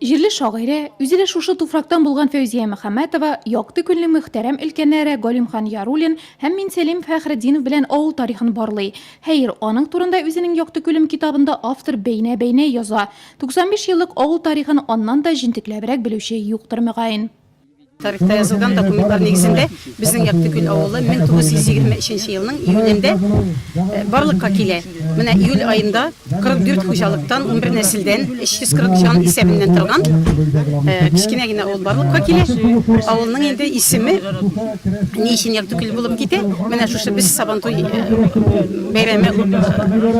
Җирле шагыйрә, үзе дә шушы туфрактан булган Фәүзия Мөхәммәтова, якты күңелле мөхтәрәм өлкәннәре Галимхан Яруллин һәм Минсәлим Фәхретдинов белән авыл тарихын барлый. Хәер, аның турында үзенең Якты күлем китабында автор бәйнә-бәйнә яза. 95 еллык авыл тарихын аннан да җентекләбрәк белүче юктыр, мөгаен. Тарихта язылган документлар нигезендә безнең Яктөкел авылы 1923 елның июлендә барлыкка килә. Менә июль аенда 44 хуҗалыктан, унбер нәселдән, 340 җан исәбеннән торган кечкенә генә авыл барлыкка килә. Авылның инде исеме ни өчен Яктүкел булып китә, менә шушы без Сабантуй бәйрәме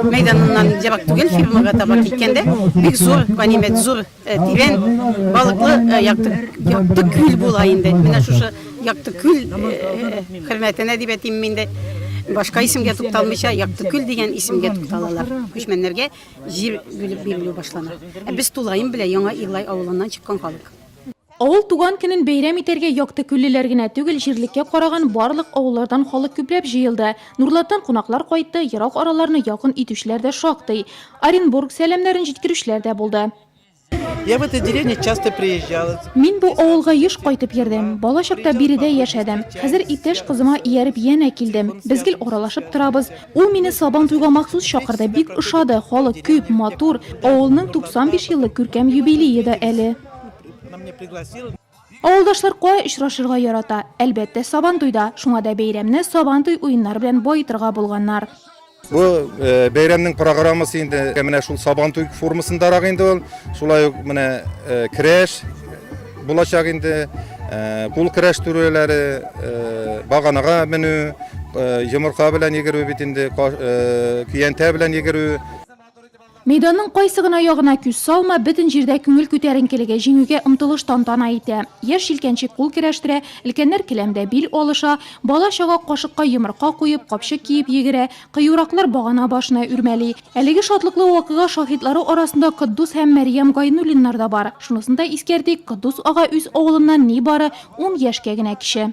мәйданыннан ерак түгел, фермага таба киткәндә бик зур ганимәт, зур Тирән балыклы якты якты күл була инде. Менә шушы якты күл хөрмәтенә дип әйтим мин дә. Башка исемгә тукталмыйча, якты күл дигән исемгә тукталалар. Күчмәннәргә җир бүлеп бирелү башлана. Ә без тулаем белән Яңа Иглай авылыннан чыккан халык. Авыл туган көнен бәйрәм итәргә яктыкүллеләр генә түгел, җирлеккә караган барлык авыллардан халык күпләп җыелды. Нурлаттан кунаклар кайтты, ерак араларны якын итүчеләр дә шактый. Оренбург сәламнәрен җиткерүчеләр дә булды. Я в этой деревне часто приезжала. Мин бу авылга еш кайтып йөрдем. Бала чакта биредә яшәдем. Хәзер иптәш кызыма ияреп янә килдем. Без гел аралашып торабыз. Ул мине Сабантуйга махсус чакырды, бик ошады, халык күп, матур. Авылның 95 еллык күркәм юбилее да әле. Авылдашлар кая очрашырга ярата? Әлбәттә, Сабантуйда. Шуңа да бәйрәмне Сабантуй уеннары белән баетырга булганнар. Бу э, бәйрәмнең программасы инде э, менә шул Сабантуй формасындарак инде ул. Шулай ук менә э, крәш булачак инде, кул крәш түрәләре, баганага менү, йомырка белән йөгерү бит инде, көянтә белән йөгерү. Мәйданның кайсы гына ягына күз салма, бөтен җирдә күңел күтәренкелеге, җиңүгә омтылыш тантана итә. Яшь җилкәнчек кул керәштерә, өлкәннәр келәмдә бил алыша, бала-чага кашыкка йомырка куеп, капчык киеп йөгерә, кыюраклар багана башына үрмәли. Әлеге шатлыклы вакыйга шаһитлары арасында Котдус һәм Мәрьям Гайнуллиннар да бар. Шунысын да искәртик, Котдус ага үз авылыннан нибары ун яшькә генә кече.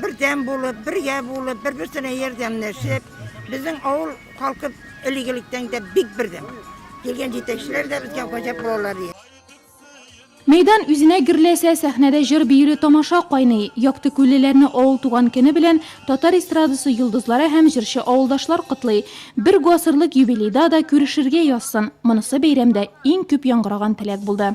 Бердәм булып, бергә булып, бер-берсенә ярдәмләшеп, безнең авыл халкы элек-электән дә бик бердәм. Килгән җитәкчеләр дә безгә гаҗәп булалар. Мәйдан үзенә гөрләсә, сәхнәдә җыр биюле тамаша кайный. Яктыкүллеләрне авыл туган көне белән татар эстрадасы йолдызлары һәм җырчы авылдашлар котлый. Бер гасырлык юбилейда да күрешергә язсын! Монысы бәйрәмдә иң күп яңгыраган теләк булды.